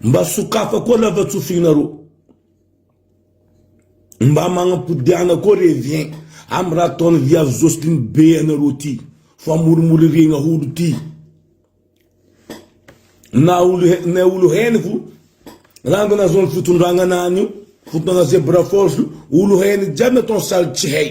Mba sokafako koa lavatsofinareo. Mba magnapody ana koa revien amin'ny raha ataon'i Viavy Jocelyne be anareo ty fa morimoririgna holo ty. Na olo henoko ranga nahazoan'ny fitondragna anany io, fotoagna zebra force io, olo henoko jiaby nataony sary tsy hay.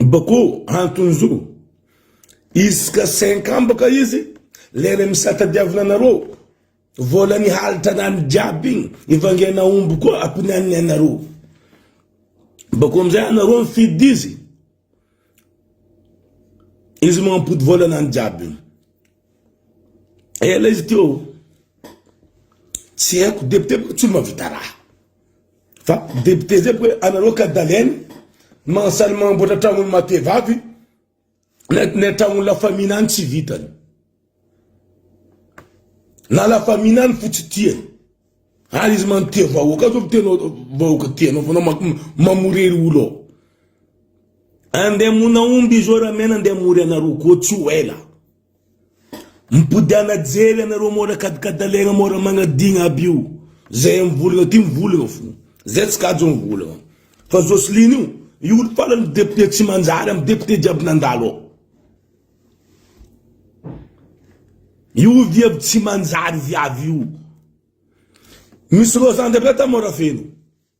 Boko antonzo. Isaka cinq ans baka izy, le remisa tadiavina anareo, vola nihalitra anany jiaby igny, ivangena omby koa akonianiny anareo. Bako amizay anareo mifidy izy, izy mampody vola anany jiaby igny. Ela izy teo, tsy haiko, depite tsy mahavita raha. Fa ny député zay hoe anareo kadalène no magnasaly magnamboatra tragnony matevavy na tragnony la famille any tsy vitany na la famille any fo tsy tiany ary izy man tia vahoaka zao tianao vahoaka tianao fa anao mamorery olo ao andeha mona omby izy eo ramena andeha amory anareo koa tsy ho ela Mipody ana jery anareo mora kadikadalegna mora magnadigna aby io zay mivolagna aty mivolagna fô zay tsy kajo mivolagna fa Joseline io io olo farany député tsy manjary amy député jiaby nandalo ao io viavy tsy manjary viavy io misy roa zandry aby ata mora feno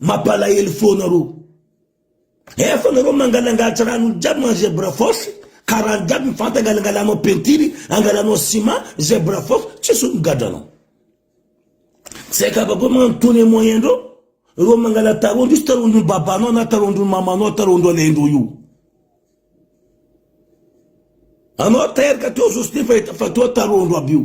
Mapalahelo foana rô. Efa nareo mangalangatra ranony jiaby man zebra force ka rano jiaby mifanta angalangalanao peinture angalanao ciment zebra force tsisy olo migadra anao tsy aiko afa koa magnano tourne moyen ndreo reo mangala tarondro izy tarondro babanao na tarondro mamanao tarondro alaindreo io anao teraka teo zosny fa fa toa tarondro aby io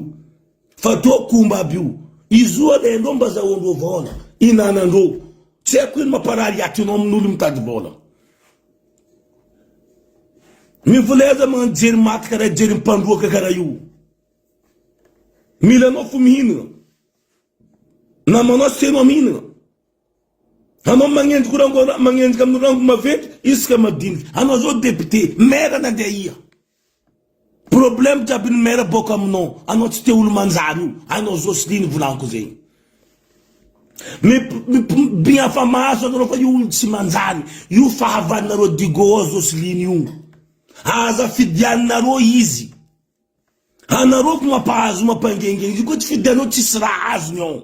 Fa toa komba aby io. Izo alaindreo mba zahoandreo vaona, inanandreo. Tsy haiko ino mamparary aty anao amin olo mitady vaona. Mivolay aza magnano jery maty karaha jery mpandroaka karaha io. Mila anao fo mihinana. Namanao tsy tianao mihinana. Anao magnenjiko rango magnenjika amin'ny rango maventy isika madinika. Anao zao député, maire nandeha aia? Problème jiaby ny maire boka aminao, anao tsy te olo manjary io, hainao Jocelyne volaniko zegny. Mipmby afa maso anareo fa io olo tsy manjary, io fahavalonareo Digo ao Jocelyne io, aza fidianinareo izy, anareo ko mampahazo mampangengengy io ko tsy fidianao tsisy raha azony ao.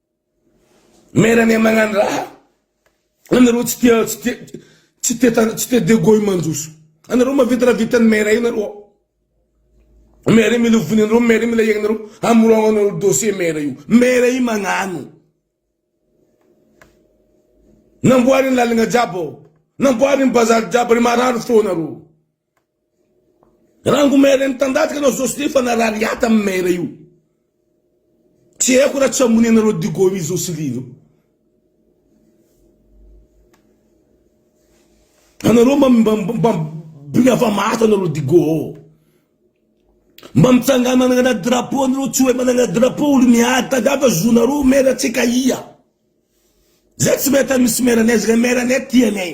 Maire anay magnano raha anareo tsy tia tsy tia tsy tia tany tsy tia de goy manjoso anareo mahavita raha vitan'ny maire io nareo ao maire mila ovina anareo maire mila iainareo hamorogno anareo dossier maire io maire io magnano namboariny lalagna jiaby ao namboariny bazary jiaby re maharary fo anareo. Rango maire mitandatika anao zao sly fa narary hata am maire io tsy haiko ra tsy amony anareo digo mi zao sly zao anareo mba mba bny ava maso anareo digo ao mba mitsangana managna drapeau anareo tsy oe managna drapeau olo miady tady hafa zonareo maire tsika ia zay tsy mety misy maire anay zay maire anay tia anay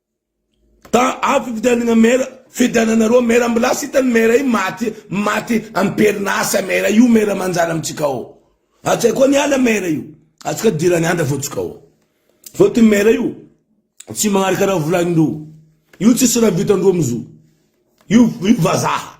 Tà avy fifidianagna maire, fidiananareo maire mbola lasa hitan'ny maire io maty maty am-perin'asa maire io maire manjary amintsika ao. Ary tsy hay koa ny ala maire io. Atsika dirany andra fô tsika ao. Fô ty maire io tsy magnaraka raha volanin-dreo. Io tsisy raha vitan-dreo am'zio. Io io vazaha.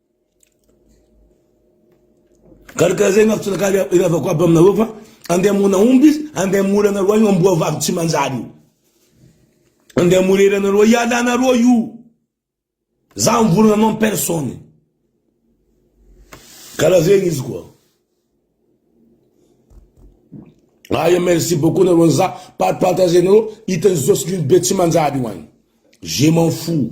Karakara zay mafy tsinakalo iavako aby aminareo fa ande amona omby izy ande amory anareo io amboa vavy tsy manjary io ande amory hery anareo hialanareo io za mivorona anao personne karaha zegny izy koa aya merci beaucoup nareo za par partager nareo hitan'ny zosy be tsy manjary io any je m'en fou